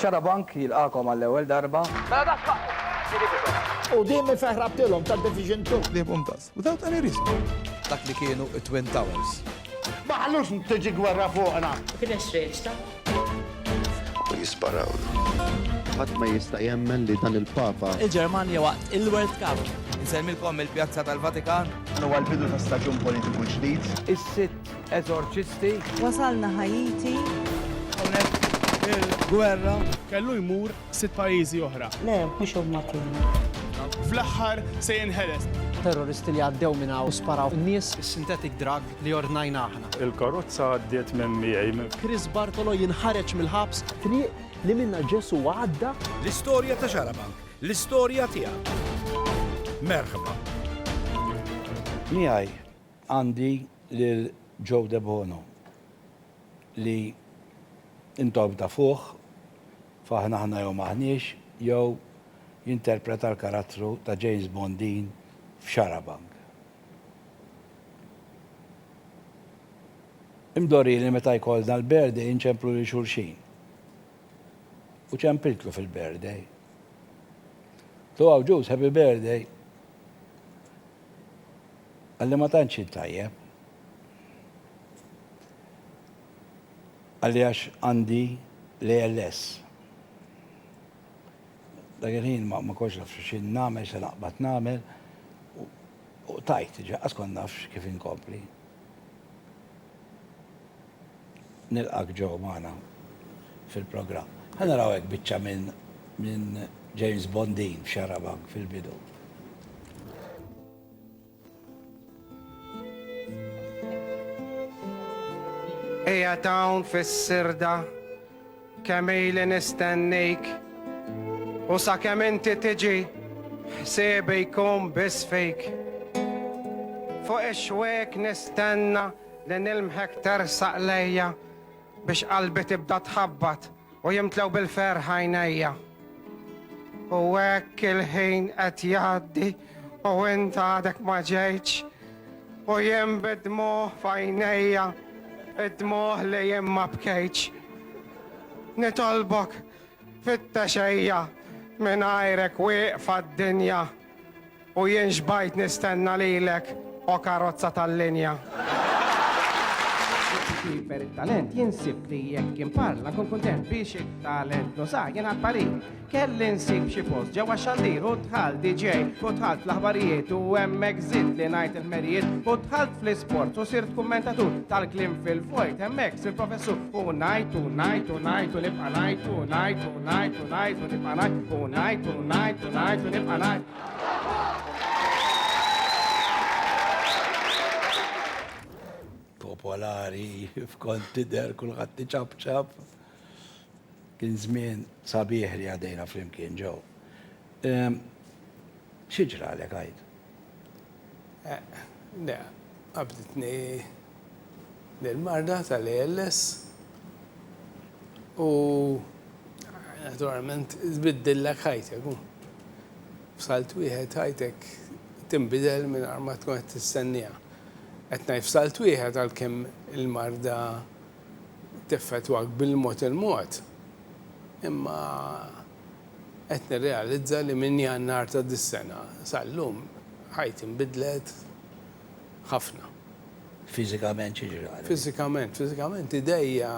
Xarabank jilqagħkom għall-ewwel darba. Mela da x'waqt li nibidhom. Qudiemi fejn ħrabtilhom ta' Division Two. Ħliebhom does, without any reason. Dak li kienu t-Twin Towers. Ma ħallux tiġi gwerra fuqna. U kien hemm xrejn ta'. U jisparawlu. Ħadd ma jista' jemmen li dan il-Papa. Il-Ġermanja waqt il-World Cup. Insellmilkom mill-Pjazza tal-Vatikan. Dan huwa l-bidu ta' staġun politiku ġdid. Is-sitt. Eżorċisti. Wasalna Ħaiti. Hawnhekk il-gwerra. Kellu jmur sitt pajjiżi oħra. Le, mhux huma kienu. Fl-aħħar se jinħeles. Terroristi li għaddew minn hawn u sparaw in-nies. Is-synthetic drug li ordnajna aħna. Il-karozza għaddiet minn miegħi. Chris Bartolo jinħareġ mill-ħabs. Triq li minnha Ġesù għadda. L-istorja ta' Xarabank, l-istorja tiegħek. Merħba. Miegħi. Għandi lil Joe Debono li intom tafuh f'Aħna Aħna Jew M'Aħniex jew jinterpreta l-karattru ta' James Bondin f'Xarabank. Imdorri li meta jkollna l-birthday inċemplu lil xulxin. U ċempiltlu fil-birthday. To Awġus, happy birthday! Qalli ma tantx int tajjeb. Qalli għax għandi l-ALS. Dak il-ħin ma kontx naf x'in nagħmel, se naqbad nagħmel u tajt, ġa qas kont naf kif inkompli. Nilqgħek ġo magħna fil-programm. Ħa naraw hekk biċċa minn James Bondin f'Xarabank fil-bidu. Eja tawn fis-sirda, kemm ili nistennejk, u sa kemm inti tiġi, ħsiebi jkun biss fejk. Fuq ix-xwek nistenna li nilmħek tersaq lejja, Biex qalbi tibda tħabbat u jimtlew bil-ferħ għajnejja. U hekk il-ħin qed jgħaddi u int għadek ma ġejtx u jien bid-dmugħ f'għajnejja, id-dmugħ li jien ma bkejtx. Nitolbok, fittexejja, mingħajrek wieqfa d-dinja. U jien x'bajt nistenna lilek, o karozza tal-linja. Kiber it-talent jinsib li jekk kien parla kun kuntent biex it-talent nusa jien għal-parir. Kelli nsib xi post ġewwa xandir u tħal DJ u tħalt fl-aħbarijiet u hemmhekk żidt li ngħid il-merijiet u tħalt fl-isport u sirt kummentatur tal-klim fil-vojt hemmhekk sir professur u ngħid u ngħid u ngħid u nibqa' ngħid u ngħid u ngħid Tonight, nibqa' ngħid, tonight, tonight, tonight, nibqa' ngħid. Popolari, f'kont tidher kulħadd tiċabċab. Kien żmien sabiħ li għadejna flimkien ġew. Xi ġralek għid? Le, qabditni l-marda tal-ALS u naturalment tbiddillek ħajtek. F'salt wieħed ħajtek tinbidel mingħajr ma tkun qed tistenniha. Qed ngħid f'salt wieħed għalkemm il-marda teffettwak bil-mod il-mod, imma Qed nirrealizza li minn Jannar ta' dis-sena sal-lum ħajti nbidlet ħafna. Fiżikament xi ġra għalik? Fiżikament, fiżikament idejja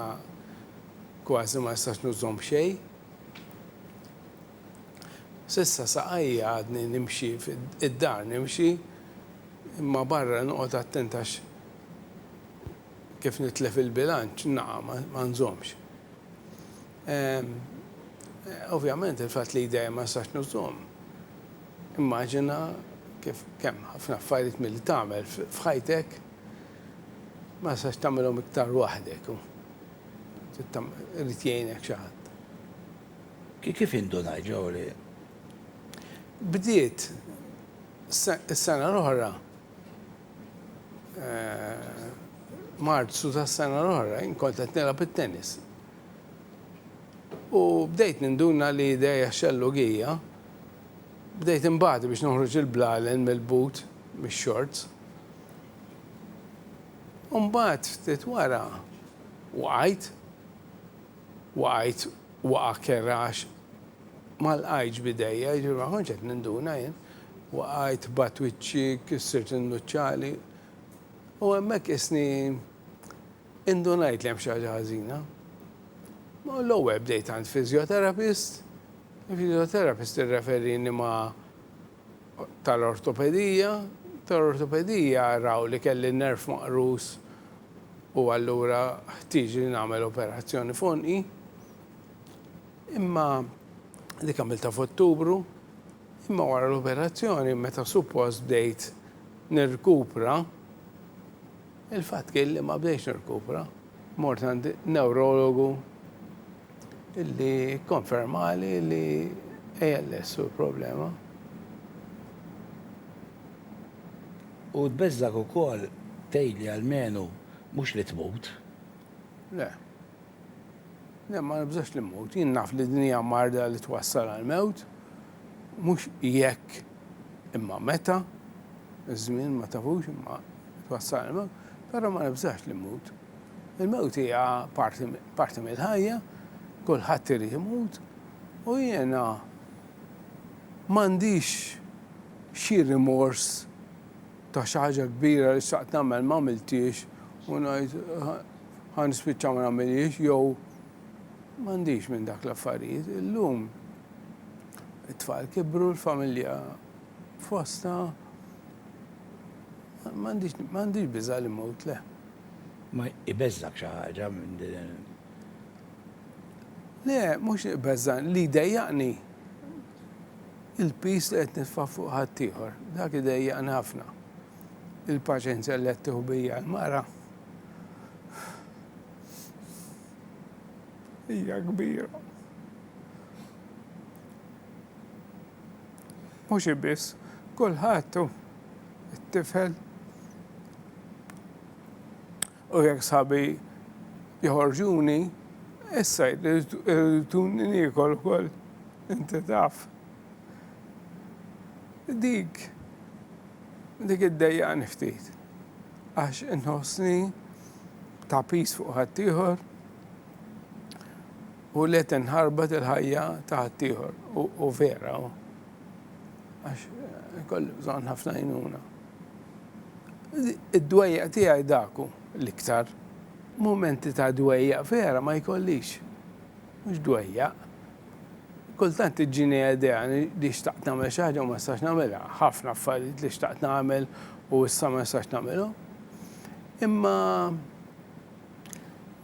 kważi ma nistax nużhom b'xejn. S'issa saqajja għadni nimxi id-dar nimxi imma barra noqgħod attent għax kif nitlef il-bilanċ naqa' ma nżommx. Ovvjament il-fatt li jdejja ma nistax nużhom. Immaġina kif kemm ħafna affarijiet milli tagħmel f'ħajtek ma nistax tagħmilhom iktar waħdek. Irid jgħinek xi ħadd. Kif indunajt ġewwa li. Bdiet is-sena l-oħra, Marzu tas-sena l-oħra, jien kont qed nilgħab it-tennis. U bdejt ninduna li idejja xellugija. Bdejt inbati biex noħroġ il-blalen mill-but, mix-xorts. U mbagħad ftit wara waqajt. Waqajt waqgħa kerha għax ma lqajtx b'idejja, jiġifieri ma kontx qed ninduna jien. Waqajt, bat wiċċi, kissirt in-nuċċali. U hemmhekk qisni Indunajt li hemm xi ħaġa ħażina. Ma l-ewwel bdejt għand physiotherapist, il-physiotherapist irreferini ma' tal-ortopedija, tal-ortopedija raw li kelli n-nerv maqrus u allura ħtieġ li nagħmel operazzjoni f'għonqi. Imma dik għamiltha f'Ottubru, imma wara l-operazzjoni meta suppost bdejt nirkupra, Il-fatt kien li ma bdejtx nirkupra, mort għand newrologu li kkonfermali li ALS hu l-problema. U tbeżżgħek ukoll tgħid li almenu mhux li tmut? Le. Le, ma nibżax li mmut. Jien naf li din hija marda li twassal għall-mewt. Mhux jekk, imma meta, iż-żmien ma tafux imma twassal il-mewt, però ma nibżax li mmut. Il-mewt hija parti mill-ħajja, kulħadd irid imut u jiena m'għandix xi rimors ta' xi ħaġa kbira li xtaqt nagħmel m'għamilthiex u ngħid ħa nispiċċa ma nagħmilhiex jew m'għandix minn dak l-affarijiet. Illum. It-tfal kibru, l-familja fostha. M'għandix biża' li mmut, le. Ma jbeżżak xi ħaġa minn din? Le, mhux li jbeżżani, li jdejjaqni il-piż li qed nitfa' fuq ħaddieħor. Dak idejjaqni ħafna. Il-paċenzja li qed tieħu bija l-mara. hija kbira. Mhux hi biss, kulħadd hu t-tifel. U jekk sabi joħorġuni, issa jriduni niekol ukoll, inti taf. Dik, dik id-dejjaqni ftit. għax inħossni ta' piż fuq ħaddieħor u li qed inħarbat il-ħajja ta' ħaddieħor u vera għax eh, kolli bżonn ħafna jnuna. Id-dwejja tiegħi daku l-iktar. Momenti ta' dwejja vera ma jkollix. Mhux dwejja. Kultant iġġini idea li xtaqt nagħmel xi ħaġa u ma nistax nagħmilha. Ħafna affarijiet li xtaqt nagħmel u issa ma nistax nagħmilhom. Imma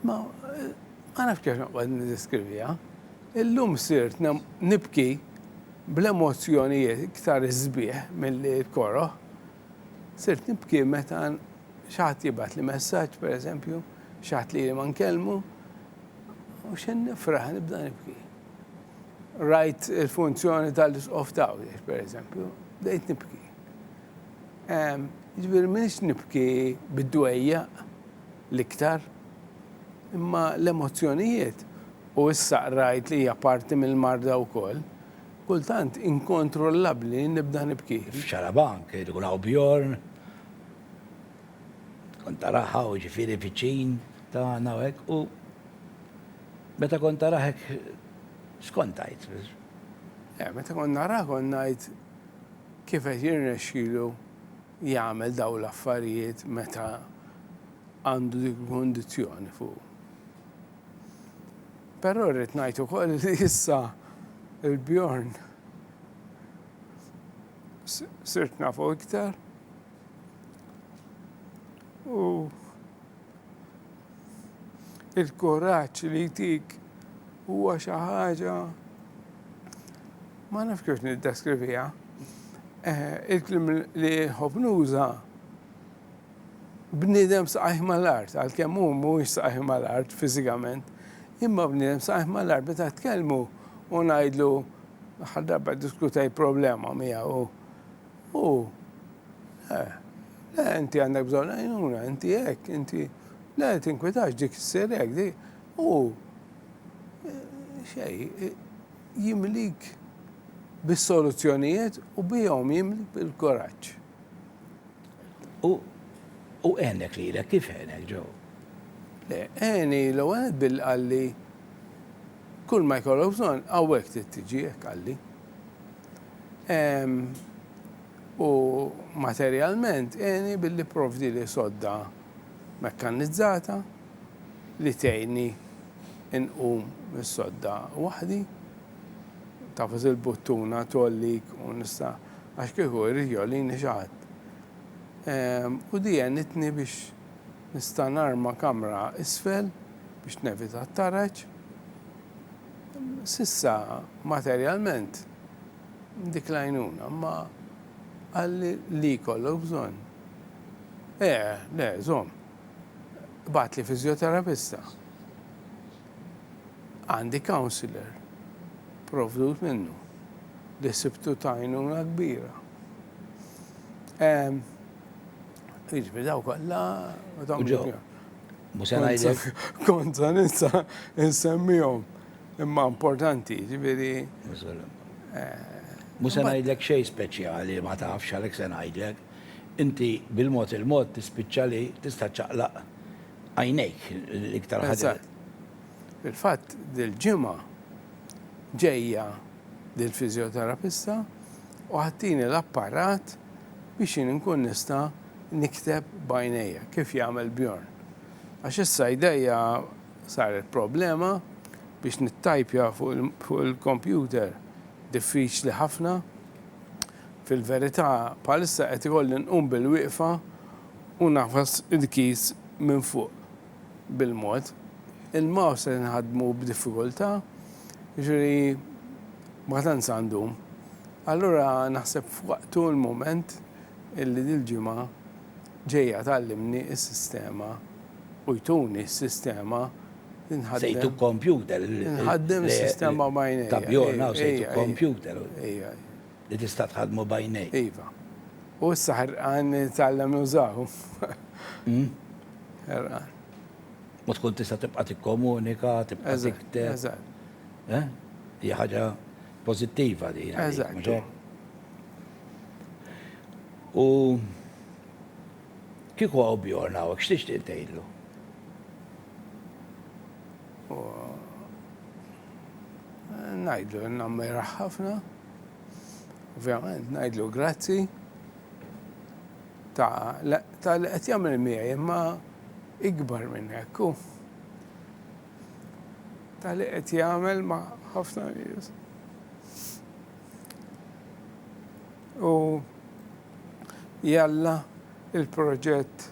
ma ma nafx kif noqgħod niddeskriviha. Illum sirt nibki bl-emozzjonijiet iktar sbieħ milli l-koroh. Sirt nibki meta xi ħadd jibgħatli messaġġ pereżempju, xi ħadd li ili ma nkellmu, U x'in nifraħ nibda nibki. Rajt il-funzjoni tal-isqof tawiex, per eżempju, bdejt nibki. Ġifieri minix nibki bid-dwejja l-iktar, imma l-emozzjonijiet u issa qrajt li hija parti mill-marda wkoll, kultant inkontrollabbli nibda nibki. F'Xarabank irid ikun hawn Bjorn, tkun taraha u ġifieri viċin Ta' għana u hekk u meta kont tarah hekk x'kont tgħid? Le, meta kont narah kont ngħid kif qed jirnexxilu jagħmel dawn l-affarijiet meta għandu dik il-kundizzjoni fuqu. Però rrid ngħid ukoll li issa il-Bjorn sirt nafu iktar u il-kuraġġ li jtik huwa xi ħaġa ma nafx kif niddeskriviha. Eh, il-klim li nħobb nuża bniedem saqajh mal-art, għalkemm hu mhuwiex saqajh mal-art fiżikament, imma bniedem saqajh mal-art meta tkellmu u ngħidlu l-aħħar darba diskutaj problema miegħu U, le, le, inti għandek bżonn għajnuna, inti hekk, inti, le, tinkwitax dik issir hekk, dik. U xej, jimlik bis-soluzzjonijiet u bihom jimlik bil-kuraġġ. U u għenek li l kif għenek ġo? Le, għeni l għenet bil-qalli kull ma jkollok bżon għawek t-tġi għalli. u materjalment għeni billi pprovdili sodda mekkannizzata li tgħinni nqum mis-sodda waħdi. Tafas il-buttuna tgħollik u nista' għax kieku jrid jgħollini xi ħadd. U di għenitni biex nista' narma kamra isfel biex nevita t-taraġ. S'issa materjalment dik l-għajnuna ma qalli li jkollok bżonn. Le, le, żomm. Ibgħatli fiżjoterapista. Għandi counsellor provdut minnu li sibtu ta' għajnuna kbira. Jiġifieri daw kollha Mhux se ngħidlek. Kont se ninsa insemmihom. Imma importanti, ġifieri. Mhux se ngħidlek xejn speċjali ma tafx għalhekk se ngħidlek. Inti bil-mod il-mod tispiċċa li tista' ċċaqlaq għajnejk l-iktar ħaġa. Fil-fatt dil-ġimgħa ġejja lill-fiżjoterapista u agħtini l-apparat biex jien inkun nista' nikteb b'għajnejja kif jagħmel Bjorn. Għax issa jdejja saret problema biex nittajpja fuq il-kompjuter diffiċli ħafna. Fil-verità bħalissa qed ikolli nqum bilwieqfa u ngħafas il-keys minn fuq. bil-mod. Il-mouse qed inħaddmu b'diffikultà, jiġifieri ma tant sa ndum. Allura naħseb f'waqtu l-mument illi dil-ġimgħa ġejja tgħallimni s-sistema u jtuni s-sistema li nħaddem. Se jtuk kompjuter. Inħaddem is-sistema b'għajnejja. Ta' bjorn hawn se jtuk kompjuter. Ejja. Li tista' tħaddmu b'għajnejk. Iva. U issa ħerqan nitgħallem nużahu. Ħerqan. U tkun tista' tibqa' tikkomunika, tibqa' tikteb. Eżatt. Eh? Hija ħaġa pożittiva din. Eżatt. U kieku għaw bjorn għawek, x'tixtieq tgħidlu? Ngħidlu nammira ħafna. Ovvjament ngħidlu grazzi ta' ta' li qed jagħmel miegħi imma ikbar minn hekk hu. Ta' li qed jagħmel ma' ħafna nies. U jalla il-proġett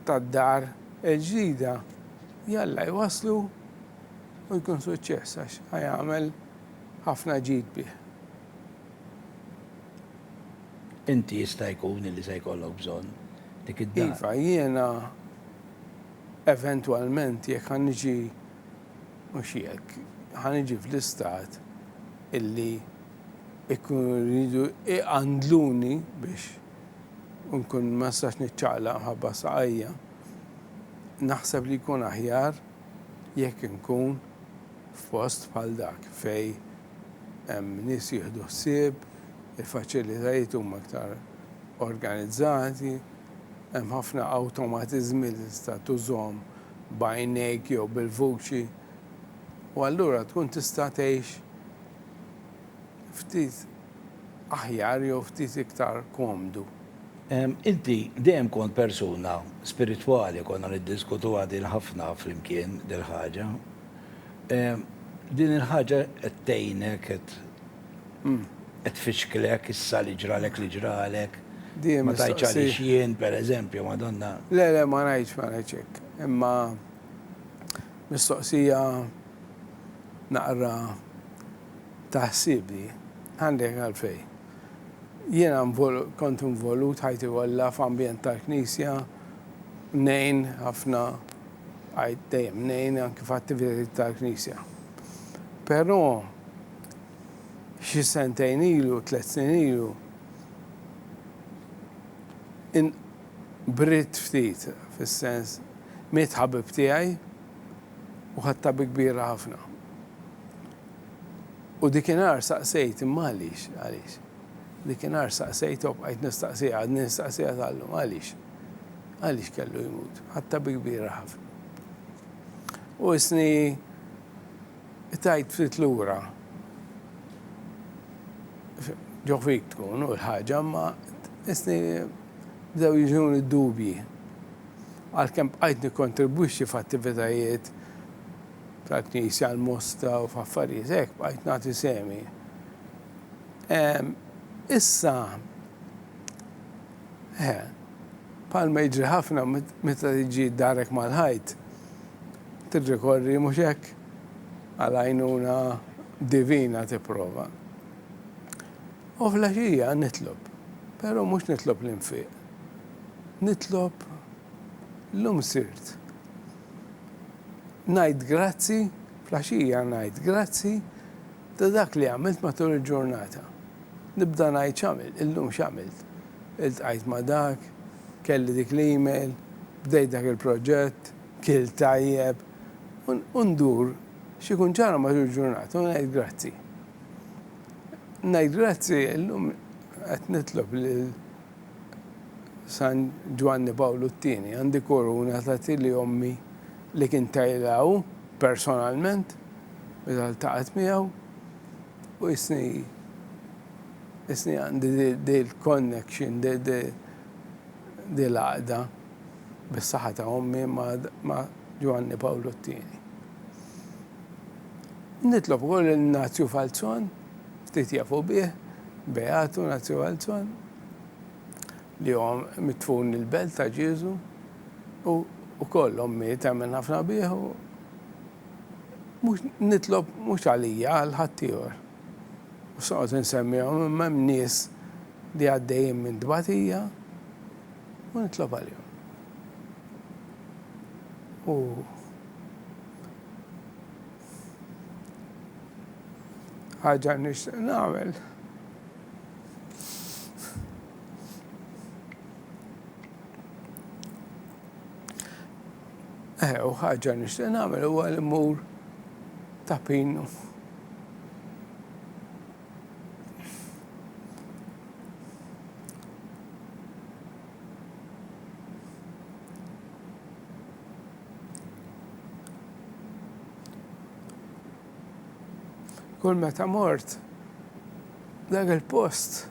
tad-dar il-ġdida jalla jwaslu u jkun suċċess għax ħajamel ħafna ġid bih. Inti jista' jkun illi se jkollok bżonn dik id-dar. Iva, jiena eventwalment jekk ħa niġi mhux jekk, ħa niġi fl-istat illi ikunu rridu iqandluni biex nkun ma nistax niċċaqlaq mħabba saqajja. Naħseb li jkun aħjar jekk inkun f'post bħal dak fejn hemm nies jieħdu ħsieb, il-faċilitajiet huma aktar organizzati, hemm ħafna awtomatiżmi li tista' tużhom b'għajnejk jew bil-vuċi u allura tkun tista' tgħix ftit. aħjar jew ftit iktar komdu. Inti dejjem kont persuna spiritwali, konna niddiskutuha din ħafna flimkien dil-ħaġa. Din il-ħaġa qed tgħinek, qed qed tfixklek issa li ġralek li ġralek? Dejjem Ma tgħidx mistoqsi. għaliex jien, pereżempju, Madonna. Le, le, ma ngħidx, ma ngħidx hekk. Imma mistoqsija naqra Taħsibni? Għandek għalfejn. Jiena kont involut ħajti kollha f'ambjent tal-Knisja, ngħin ħafna, għidt dejjem ngħin anki f'attivitajiet tal-Knisja. Però xi sentejn ilu, tliet snin ilu, inqbriet ftit, fis-sens miet ħabib tiegħi, u ħadtha bi kbira ħafna. U dikinhar saqsejt, imma għaliex, għaliex? Dikinhar saqsejt u bqajt nistaqsija, għadni nistaqsija tal-lum, għaliex? Għaliex kellu jmut? Ħadtha bi kbira ħafna. U isni tajt ftit lura ġoħfik tkun u l-ħagġa ma isni bdew jiġun id-dubji. Għalkemm bqajt nikkontribwixxi f'attivitajiet tal-Knisja, l-Mosta u f'affarijiet hekk, bqajt nagħti sehmi. Ehm, issa, eh, bħalma jiġri ħafna meta tiġi darek mal-ħajt, tirrikorri mhux hekk għal għajnuna divina tipprova. U fl-għaxija nitlob, però mhux nitlob l-infiq. Nitlob llum sirt. Ngħid grazzi, fl-għaxija ngħid grazzi ta' dak li għamilt matul il-ġurnata. Nibda ngħid x'għamilt, illum x'għamilt. Iltqajt ma' dak, kelli dik l-email, bdejt dak il-proġett, kilt tajjeb. U ndur x'ikun ġara matul il-ġurnata u ngħid grazzi. Ngħid grazzi illum qed nitlob lil San Ġwanni Pawlu t-Tieni, għandi kuruna ta' tili ommi li kien tajlha hu personalment meta ltaqgħet miegħu u jisni jisni għandi dil connection dil għaqda bis-saħħa ta' ommi ma' Ġwanni Pawlu t-Tieni. Nitlob ukoll lil Nazju Falzon Ftit jafu bih, Beatu Naziuelson, li huwa mitfun il-belt ta' Ġieżu, u wkoll ommi temmen ħafna bih u mhux nitlob mhux għalija għal ħaddieħor. U se noqgħod insemmihom imma hemm nies li għaddejjin minn tbatija u nitlob għalihom. U ħaġa nixtieq nagħmel. Eh, u ħaġa nixtieq nagħmel huwa li mmur ta' pinu. Kull meta mort dak il-post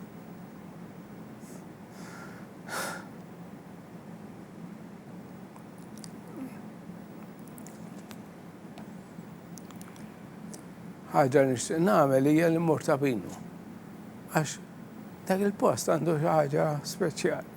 ħaġa li nixtieq nagħmel hija li mmur ta' binu. Għax dak il-post għandu xi ħaġa speċjali.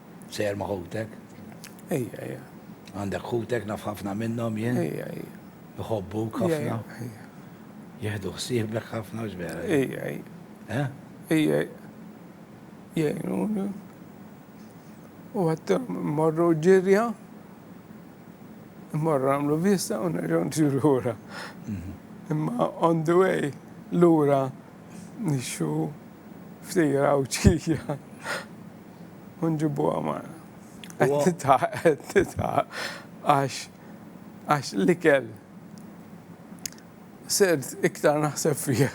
Sejjer ma' ħutek? Ejja, ejja. Għandek ħutek naf ħafna minnhom jien? Ejja, ejja. Iħobbuk ħafna? Ejja. Jieħdu ħsiebek ħafna x'vera? Ejja, ejja. Eh? Ejja. Jgħinuni. U għat morru ġirja, morru għamlu vista u nerġgħu ġirura. Mhm. Imma on the way, lura nixxu ftit rawċija u nġibuha magħna. Qed titħaq, qed titħaq għax għax l-ikel sirt iktar naħseb fih.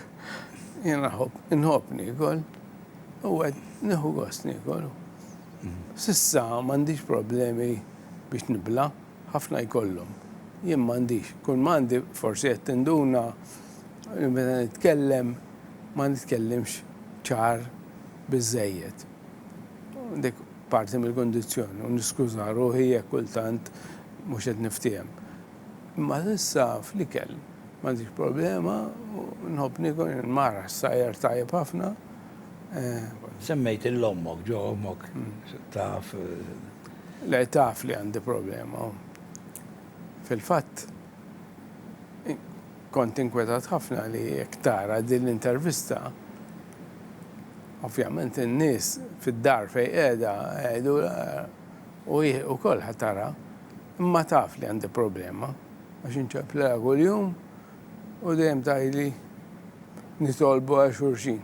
Jena nħob nikol, u għed neħu gost nikol. Sissa mandiġ problemi biex nibla, ħafna jkollhom. Jien mandiġ, kull mandi forsi qed tinduna Meta nitkellem ma nitkellimx ċar biżżejjed. Dik parti mill-kundizzjoni u niskuża ruħi jekk kultant mhux qed niftiehem. Imma s'issa fl-ikel m'għandix problema u nħobb niekol, jien mara ssajjar tajjeb ħafna. Semmejt lil ommok, ġo ommok taf? Le taf li għandi problema u fil-fatt Kont inkwetat ħafna li jekk tara din l-intervista, ovvjament in-nies fid-dar fejn qiegħda jgħidulha u hi wkoll ħa tara, imma taf li għandi problema għax inċemplilha kuljum u dejjem tgħidli nitolbu għal xulxin.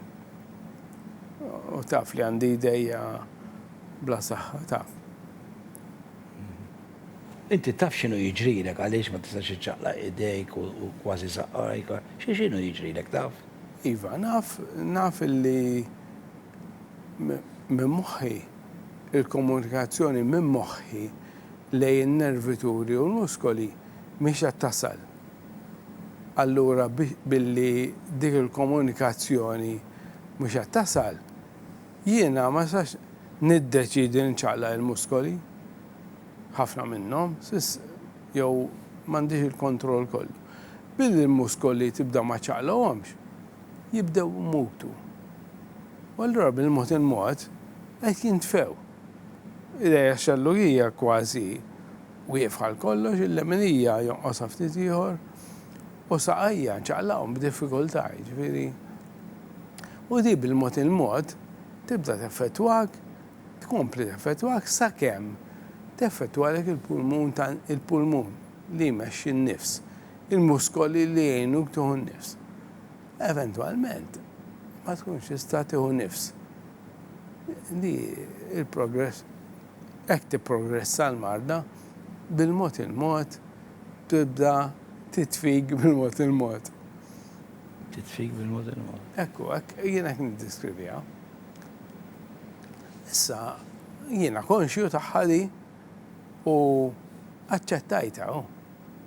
U taf li għandi jdejja bla saħħa, taf. Inti taf x'inhu jiġrilek għaliex ma tistax iċċaqlaq idejk u kważi saqajk? Xi x'inhu jiġrilek taf? Iva, naf, naf li minn moħħi, il-komunikazzjoni minn moħħi lejn in-nervituri u l-muskoli mhix qed tasal. Allura billi dik il-komunikazzjoni mhux qed tasal, jiena ma nistax niddeċiedi li nċaqlaq il-muskoli. ħafna minnhom, jew m'għandix il-kontroll kollu. Billi l-muskoli tibda ma ċċaqlaqhomx, jibdew imutu. U allura bil-mod il-mod qed jintfew. Idejha xellugija kważi wieqfa għal kollox, il-leminija jonqosha ftit ieħor, u saqajja nċaqlaqhom b'diffikultà, jiġifieri. U din bil-mod il-mod tibda teffettwak tkompli teffettwak sakemm teffettwalek il-pulmun ta' il-pulmun li jmexxi n-nifs, il-muskoli li jgħinuk tieħu n-nifs. Eventwalment ma tkunx tista' tieħu nifs. Di il-progress hekk tipprogressa l-marda bil-mod il-mod tibda titfig bil-mod il-mod. Titfig bil-mod il-mod. Ekku, hekk jien hekk niddiskriviha. Issa jiena konxju tagħha di u aċċettajtha u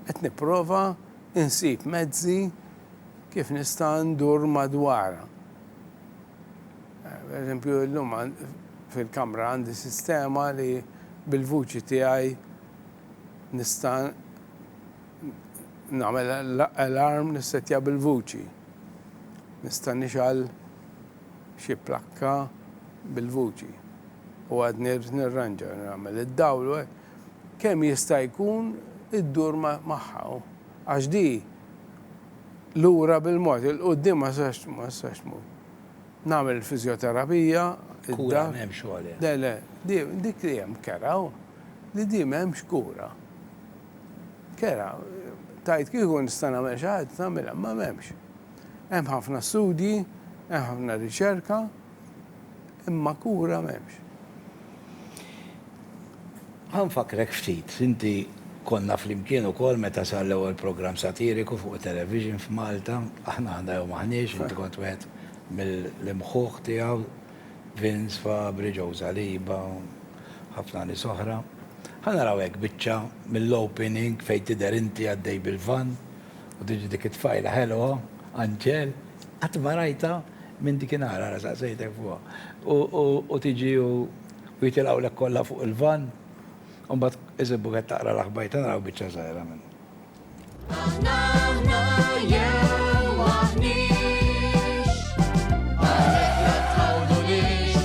qed nipprova nsib mezzi kif nista' ndur madwarha. Pereżempju illum fil-kamra għandi sistema li bil-vuċi tiegħi nista' nagħmel alarm nissettja bil-vuċi. Nista' nixgħal xi plakka bil-vuċi u għadni rrid nirranġa, nagħmel id-dawl u hekk, kemm jista' jkun iddur magħha għax di lura bil-mod, il-quddiem ma tistax tmur. Nagħmel il-fiżjoterapija, Kura m'hemmx għaliha. Le, le, dik li hemm kera hu li di m'hemmx kura. Kera, tgħid kieku nista' nagħmel xi ħaġa nagħmilha, imma m'hemmx. Hemm ħafna studji, hemm ħafna riċerka, imma kura m'hemmx. Ħa nfakkrek ftit, inti konna flimkien ukoll meta sar l-ewwel programm satiriku fuq it-television f'Malta, Aħna Aħna Jew M'Aħniex, inti kont wieħed mill-imħuħ tiegħu, Vince Fabri, Joe Saliba, ħafna nies oħra. Ħa naraw hekk biċċa mill-opening fejn tidher inti għaddej bil-vann. U tiġi dik it-tfajla ħelwa, anġel, qatt ma rajtha minn dikinhar, ara saqsejtek fuqha. U tiġi u jitilgħulek kollha fuq il-vann, u mbagħad isibuk qed taqra l-aħbajr ta' naraw biċċa żgħira minnha. Aħna aħna jew aħniex, għalhekk la tħawdunix.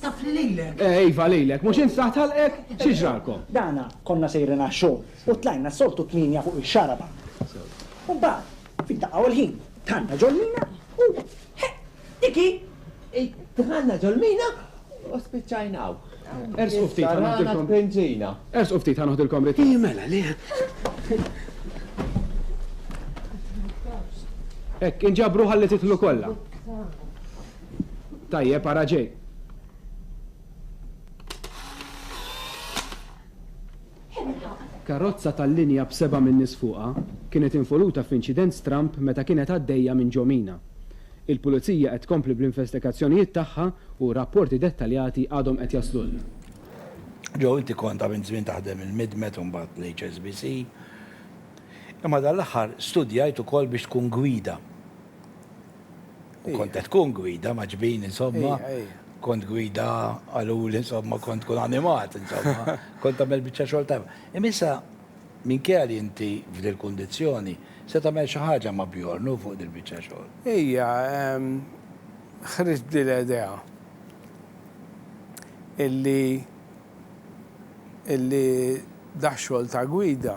Taf li lilek. Eh, iva lilek, mhux insaħ talqek, xi ġralkom? Dana konna sejrin għax-xogħol u tlajna s-soltu tminja fuq ix-xaraba. U mbagħad, fid-daqqa u l-ħin, tħanna ġolmina u diki. Tħanna ġolmina u spiċċajnaw. Ers u ftit ħanoħdilkom. Benzina. Ers u ftit ħanoħdilkom rit. Mela li. Ek, inġabru ħalli titlu kollha. Tajjeb ara ġej. Karozza tal-linja b'seba' min-nies fuqha kienet involuta f'inċident stramb meta kienet għaddejja minn Ġo Mina. Il-Pulizija qed tkompli bl-investigazzjonijiet tagħha u rapporti dettaljati għadhom qed jaslulna. Joe, inti kont ta' minn żmien taħdem il-Midmet u mbagħad l-HSBC. Imma dan l-aħħar studjajt ukoll biex tkun gwida. U kont qed tkun gwida ma' ġbin, insomma. Kont gwida għalul, insomma, kont tkun animat, insomma. Kont tagħmel biċċa xogħol tajba. Imma issa, minkejja li inti f'dil-kundizzjoni, se tagħmel xi ħaġa ma' Bjorn hu fuq dil-biċċa xogħol. Ija, ħriġt dil-idea illi illi dax-xogħol ta' gwida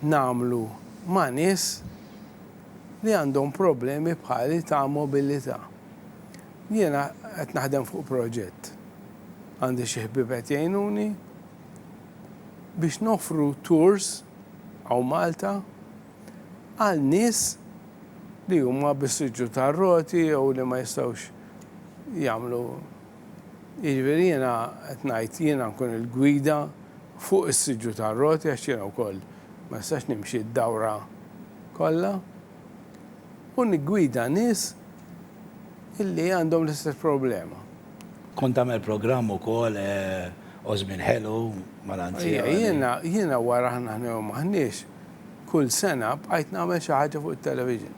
nagħmlu ma' nies li għandhom problemi bħali ta' mobilità. Jiena qed naħdem fuq proġett, għandi xi ħbieb qed jgħinuni, biex noffru tours hawn Malta għal nies li huma bis-siġġu tar-roti jew li ma jistgħux jagħmlu, jiġifieri jiena qed ngħid jiena nkun il-gwida fuq is-siġġu tar-roti għax jiena wkoll ma nistax nimxi d-dawra. kollha u niggwida nies illi għandhom l-istess problema. Kont tagħmel programm ukoll Għożmien Ħelu mal-anzjani. Jiena, jiena wara aħna ħna jew m'aħniex, kull sena bqajt nagħmel xi ħaġa fuq it-television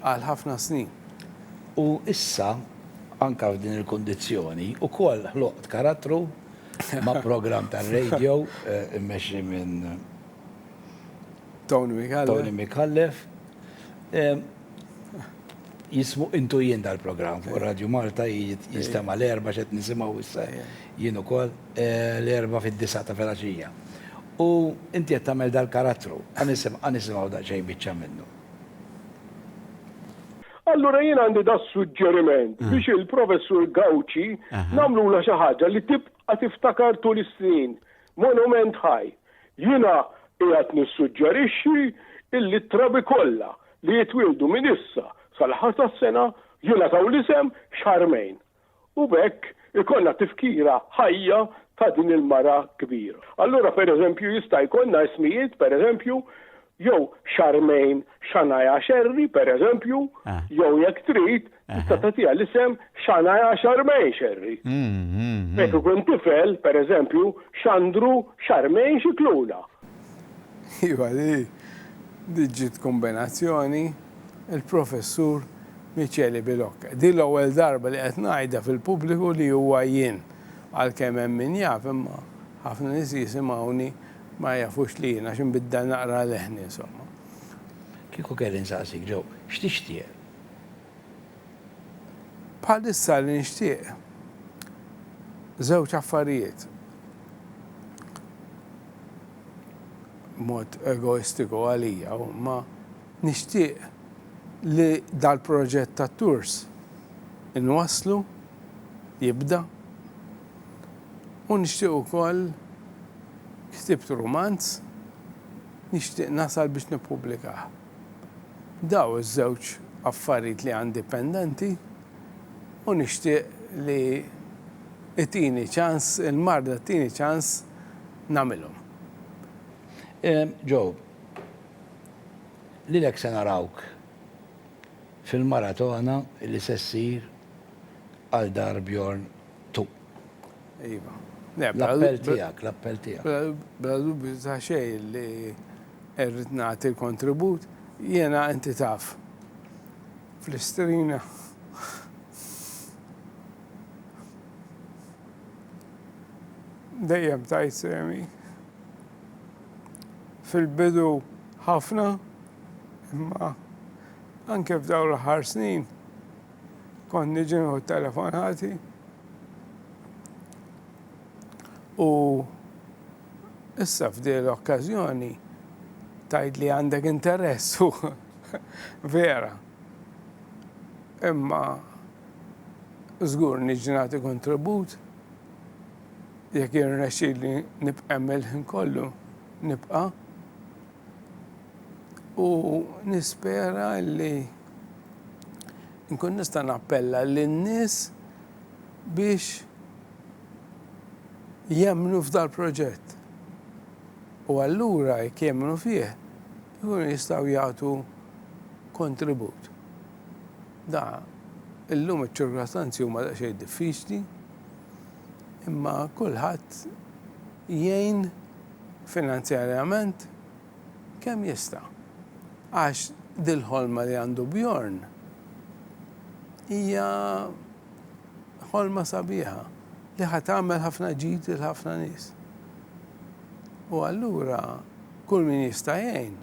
għal ħafna snin. U issa, anke f'din il-kundizzjoni, ukoll ħloqt karattru ma' programm tar-radio mmexxi minn Tony Mikallef. Tony Mikallef. Jismu intu jien dal-programm fuq Radio Malta jistema l-erba xed nisimaw issa jien ukoll l-erba fid-disa ta' felaxija. U inti qed tagħmel dal-karattru, għanisimgħu daqsxejn biċċa minnu. Allura jien għandi da suġġeriment biex il-Professur Gauci nagħmlula xi ħaġa li tibqa' tiftakar tul is-snin. Monument ħaj. Jiena qiegħed nissuġġerixxi illi t-trabi kollha li jitwieldu minn issa sal-aħħar tas-sena jingħataw l-isem Charmaine u b'hekk ikollna tifkira ħajja ta' din il-mara kbira. Allura, pereżempju, jista' jkollna ismijiet, pereżempju, jew Charmaine Shania Scerri, pereżempju, jew jekk trid, tista' tagħtiha l-isem Shania Charmaine Scerri. Jekk ikun tifel, pereżempju, Xandru Charmaine Scicluna. Iva, din ġiet kombinazzjoni, il-Professur Michele Bilocca. Din l-ewwel darba li qed ngħidha fil-pubbliku li huwa jien. Għalkemm hemm min jaf, imma ħafna nies jisimgħuni Ma jafux li jien, għax inbiddel naqra leħni, insomma. Kieku kelli nsaqsik, Joe, x'tixtieq? Bħalissa li nixtieq żewġ affarijiet. Mod egoistiku għalija, ma nixtieq li dal-proġett tat-tours inwasslu, jibda, u nixtieq ukoll ktibt rumanz nixtieq nasal biex nippubblikah. Daw iż-żewġ affarijiet li għandi pendenti u nixtieq li itini ċans, il-marda ttini ċans nagħmilhom. Joe, lilek se narawk fil-maratona li se ssir għal dar Bjorn. Tu. Iva. L-appell tiegħek, l-appell tiegħek. Bla dubju ta' xejn li rrid nagħti l-kontribut, jiena inti taf. Fl-istrina dejjem tajt semi. Fil-bidu ħafna, imma anke f'dawn l-ħar snin Kont niġi nieħu t-telefonati u issa f'din l-okkażjoni tgħid li għandek interess u vera. Imma żgur niġi nagħti kontribut jekk jirnexxi li nibqa' mill-ħin kollu nibqa' U nispera li nkun nista' nappella lin-nies biex jemmnu f'dal-proġett. U allura jekk jemmnu fih, ikunu jistgħu jagħtu kontribut. Da, illum iċ-ċirkostanzi huma daqsxejn diffiċli, imma kulħadd jgħin finanzjarjament kemm jista', għax dil-ħolma li għandu Bjorn hija ħolma sabiħa li ħa tagħmel ħafna ġid lil ħafna nies. U allura kull min jista' jgħin,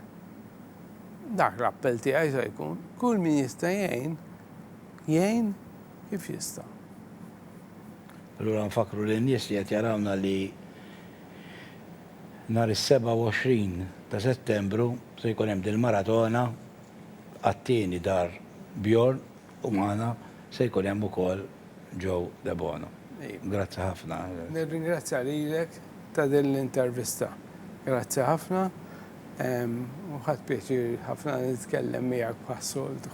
dak l-appell tiegħi se jkun, kull min jista' jgħin, jgħin Kif jista'? Allura nfakkru lin-nies li qed jarawna li nhar is-27 ta' Settembru se jkun hemm dil-maratona għat-tieni dar Bjorn u magħna se jkun hemm ukoll Joe Debono. Grazzi ħafna. Nirringrazzja lilek ta' din l-intervista. Grazzi ħafna u ħadt pjaċir ħafna nitkellem miegħek bħas-soltu.